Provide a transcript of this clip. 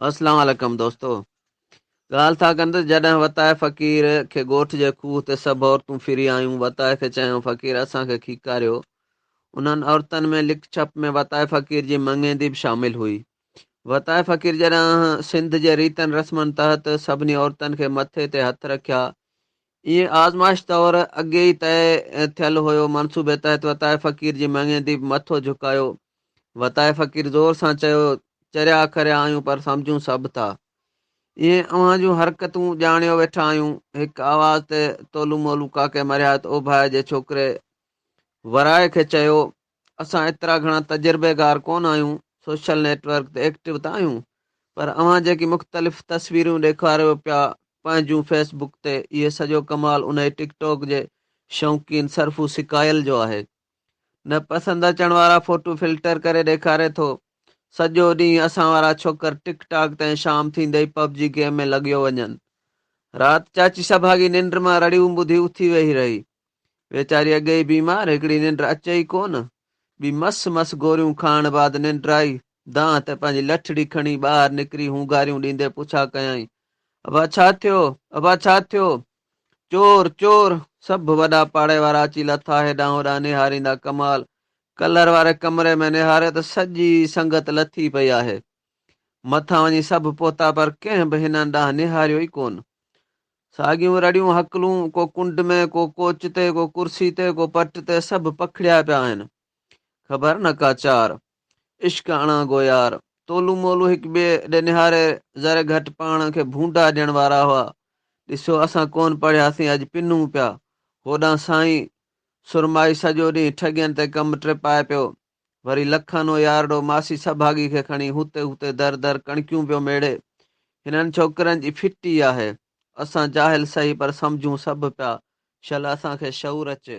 اسلام عليڪم دوستو ڳالهه ٿا ڪن ته جڏهن وتاء فقير کي ڳوٺ جي کوهه تي سڀ عورتون ڦري آيون وتاء کي چيائون فقير اسان کي کيڪاريو انهن عورتن ۾ لک ڇپ ۾ وتاء فقير جي مڱيندي به شامل هئي وتاء فقير جڏهن سنڌ جي ريتن رسمن تحت سڀني عورتن کي مٿي تي هٿ رکيا ائين آزمائش طور اڳي ئي طئي ٿيل هيو. منصوبي تحت وتائي فقير جي مڱي ديب مٿو جهڪايو. وتائي فقير زور سان چيو، چريا کريا آهيون پر سمجهون سڀ ٿا. ائين اوهان جون حرڪتون ڄاڻيو ويٺا آهيون. هڪ آواز تي تولو مولو ڪاڪي مرهيات اوڀائي جي ڇوڪري ورائي کي چيو. اسان ايترا گهڻا تجربيگار ڪونه آهيون، سوشل نيٽ ورڪ تي ايڪٽو ته آهيون، پر اوهان جيڪي مختلف تصويرون ڏيکاريو پيا پنهنجون فيس بڪ تي، اهي سڄو ڪمال انهي ٽڪ ٽاڪ جي شوقين سرفو سڪايل جو آهي. نه پسند اچڻ وارا فوٽو فلٽر ڪري ڏيکاري ٿو. سڄو ڏينهن اسان وارا ڇوڪر ٽڪ ٽاڪ تي ۽ شام ٿيندي ئي پب جي گيم ۾ لڳيو وڃن. رات چاچي سڀاڳي ننڊ مان رڙيون ٻڌي اٿي ويهي رهي. ويچاري اڳي ئي بيمار، هڪڙي ننڊ اچي ئي ڪونه. ٻي مس مس گوريون کائڻ بعد ننڊ آئي. دانهن ته پنهنجي لٺڙي کڻي ٻاهر نڪري هونگاريون ڏيندي پڇا ڪيائين، ابا ڇا ٿيو؟ ابا ڇا ٿيو؟ چور! چور! سڀ وڏا پاڙي وارا اچي لٿا هيڏانهن هوڏانهن نهاريندا ڪمال ڪلر واري ڪمري ۾ نهاريو ته سڄي سنگت لٿي پئي آهي. مٿان وڃي سڀ پهتا پر ڪنهن به هنن ڏانهن نهاريو ئي ڪونه. ساڳيون رڙيون هڪلون، ڪو ڪنڊ ۾، ڪو ڪوچ تي، ڪو ڪرسي تي، ڪو پٽ تي، سڀ پکڙيا پيا آهن. خبر نه ڪا چار. عشق اڻا گو يار. تولو مولو هڪ ٻئي ڏي نهاري ذري گهٽ پاڻ کي ڀونڊا ڏيڻ وارا هئا. ڏسيو اسان ڪونه پڙهياسين اڄ پنون پيا. هوڏانهن سائين سرمائي سڄو ڏينهن ٺڳين تي ڪم ٽپائي پيو. وري لکانو يارڙو ماسي سڀاڳي کي کڻي هوتي هوتي در در ڪڻڪيون پيو ميڙي. هنن ڇوڪرن جي ڦٽي آهي. اسان جاهل سهي پر سمجهون سڀ پيا. شل اسان کي شعور اچي.